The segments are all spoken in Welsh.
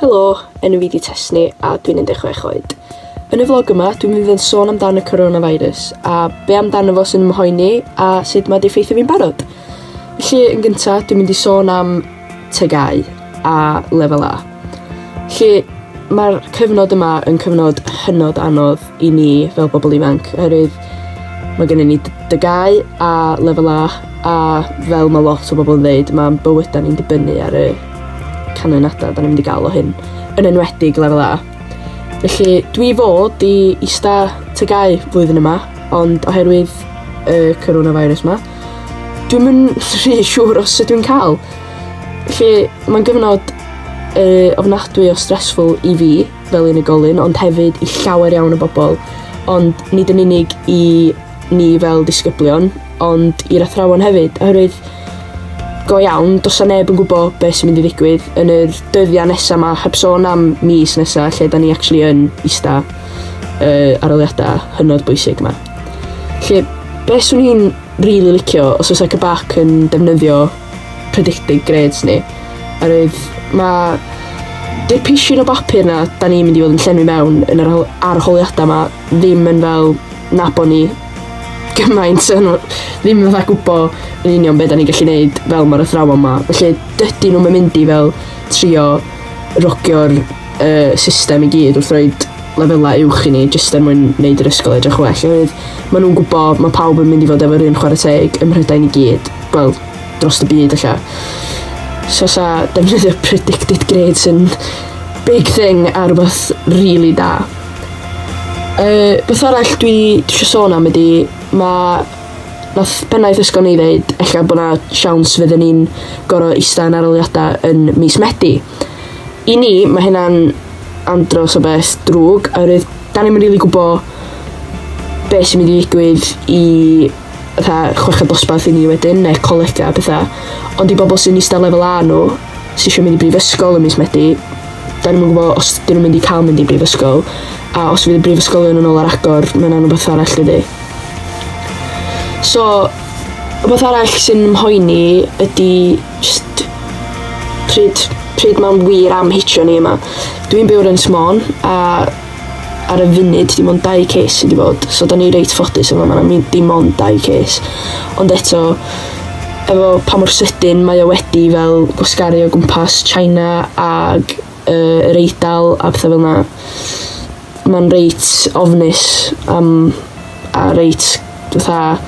Helo, enw fi 'di Tesni a dwi'n 16 oed. Yn y vlog yma dwi'n mynd i fod yn sôn amdan y coronavirus a be' amdano fo sy'n 'y mhoeni a sut ma' 'di effeithio fi'n barod. Felly yn gynta dwi'n mynd i sôn am TGAU a Lefel A. 'Lly ma'r cyfnod yma yn cyfnod hynod anodd i ni fel pobl ifanc oherwydd mae gennym ni dygau a lefel A a fel mae lot o bobl yn dweud mae'n bywydau ni'n dibynnu ar y canlyniadau da ni'n mynd i gael o hyn yn enwedig lefel A. Felly dwi fod i ista tygau flwyddyn yma ond oherwydd y coronavirus yma dwi'n mynd rhy siŵr os ydw i'n cael. Felly mae'n gyfnod yy ofnadwy o stressful i fi. fel unigolyn, ond hefyd i llawer iawn o bobl, ond nid yn unig i ni fel disgyblion, ond i'r athrawon hefyd, oherwydd go iawn, dos a neb yn gwybod beth sy'n mynd i ddigwydd yn yr dyddiau nesaf yma, heb sôn am mis nesaf lle da ni actually yn ista uh, aroliadau hynod bwysig yma. Lle, beth swn i'n rili really licio os oes Ecobac yn defnyddio predicted grades ni. Oherwydd mae dipisiwn o bapur na da ni'n mynd i fod yn llenwi mewn yn yr arholiadau yma ddim yn fel na bod ni gymaint yn ddim yn fatha gwybod yn union beth da ni'n gallu gwneud fel mae'r athrawon yma. Felly dydy nhw'n mynd i fel trio rogio'r uh, system i gyd wrth roed lefelau uwch i ni jyst er mwyn wneud yr ysgol edrych well oherwydd maen nhw'n gwybod mae pawb yn mynd i fod efo'r un chwarae teg ym Mhrydain i gyd, wel, dros y byd allan. So sa defnyddio predicted grades yn big thing a rhywbeth really da. Uh, beth arall dwi eisiau sôn am ydy, mae nath pennaeth ysgol ni ddeud, ella bod na siawns fydden ni'n gorau eista yn aroliadau yn mis Medi. I ni, mae hynna'n andros o beth drwg, oherwydd da ni'n mynd rili gwybod beth sy'n mynd i ddigwydd i fatha chweched dosbarth i ni wedyn, neu colegau a pethau. Ond i bobl sy'n eistedd lefel A nhw, sy'n eisiau mynd i brifysgol yn mis Medi, da ni'n mynd gwybod os dyn nhw'n mynd i cael mynd i brifysgol, a os fydd y brifysgolion yn ôl ar agor, mae yna'n rhywbeth arall dydy. So, rhywbeth arall sy'n mhoeni ydy Jyst pryd, pryd mae'n wir am hitio ni yma. Dwi'n byw yn Ynys Môn a ar y funud dim ond dau case sydd wedi bod, so da ni reit ffodus yma, mae yna dim ond dau case. Ond eto, efo pa mor sydyn mae o wedi fel gwasgaru o gwmpas China ac uh, yr Eidal a pethau fel yna. Mae'n reit ofnus am a reit fatha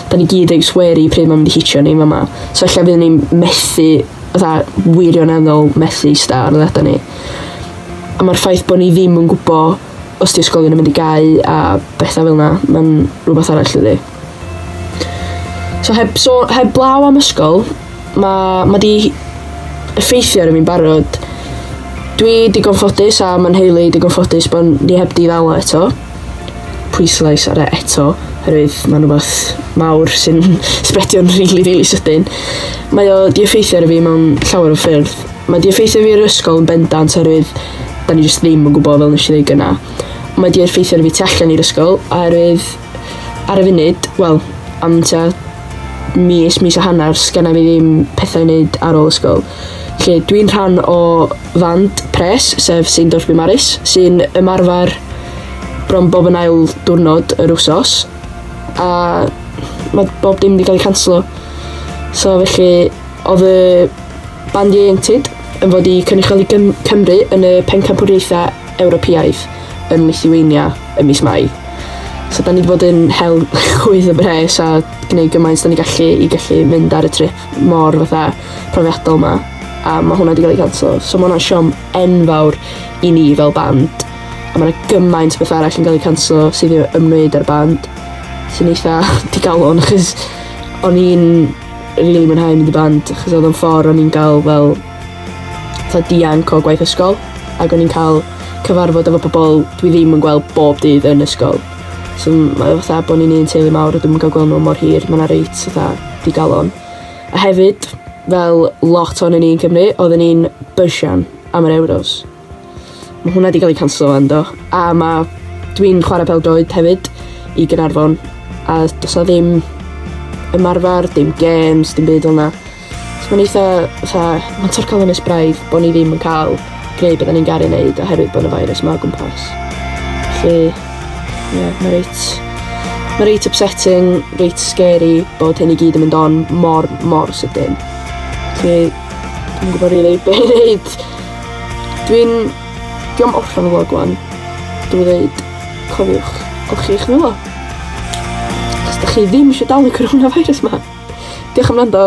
'dan ni gyd reit wary pryd ma'n mynd i hitio ni fama. So ella byddwn ni'n methu fatha wirioneddol methu ista ar ôl adra ni. A ma'r ffaith bo' ni ddim yn gwbo os 'di ysgolion yn mynd i gau a betha fel 'na ma'n rwbath arall dydi? So heb, so, heb blaw am ysgol, mae ma di effeithio ar y fi'n barod. Dwi digon ffodus a mae'n heili digon ffodus bod ni heb di ddal eto. Pwyslais ar e eto, herwydd mae'n rhywbeth mawr sy'n sbredio'n rili, really, rili really sydyn. Mae o di effeithio ar y fi mewn llawer o ffyrdd. Mae di effeithio fi ar ysgol yn bendant herwydd da ni jyst ddim yn gwybod fel nes i ddweud gyna. Mae di effeithio ar y fi tu allan i'r ysgol, oherwydd Ar y funud, wel, am tua mis, mis a hanner, sgynna fi ddim pethau i wneud ar ôl ysgol. Lle dwi'n rhan o fand pres, sef St Dorby Maris, sy'n ymarfer bron bob yn ail diwrnod yr wsos. A mae bob dim wedi cael ei canslo. So felly, oedd y band ieuenctid yn fod i cynrychioli Gym Cymru yn y pencampwriaethau Ewropeaidd yn Lithuania ym mis Mai. So da ni wedi bod yn hel chwydd y bres a gwneud gymaint da ni gallu i gallu mynd ar y trip mor fatha profiadol ma. A mae hwnna wedi cael ei canslo. So mae hwnna'n siom enfawr i ni fel band. A mae yna gymaint beth arall yn cael ei canslo sydd i ymwneud â'r band. Sy'n eitha digalon achos o'n i'n rili mwynhau mynd i band achos oedd o'n ffordd o'n i'n gael fel fatha dianc o gwaith ysgol ac o'n i'n cael cyfarfod efo pobl dwi ddim yn gweld bob dydd yn ysgol. So mae fatha bod ni'n un teulu mawr a dwi'm yn cael gweld nhw mor hir, mae yna reit fatha digalon. A hefyd fel lot o'n ni'n Cymru oedden ni'n bysian am yr Euros. Mae hwnna wedi cael ei canslo ynddo. A mae... Dwi'n chwarae pel-droed hefyd i Gaernarfon a does 'na ddim ymarfer, dim games, dim byd fel 'na. So mae'n eitha fatha mae'n torcol ynys braidd bod ni ddim yn cael gwneud beth 'da ni'n garu wneud oherwydd bod y feirws 'ma o gwmpas. Felly ie yeah, mae reit mae reit upsetting, reit scary bod hyn i gyd yn mynd on mor mor sydyn. Felly dwi'n gwybod rili really be' i wneud. Dwi'n... Dwi am orffen y vlog wan. Dwi'n dweud, cofiwch, golchi chi'ch nwylo. Os da chi ddim eisiau dal y coronavirus ma. Diolch am rando.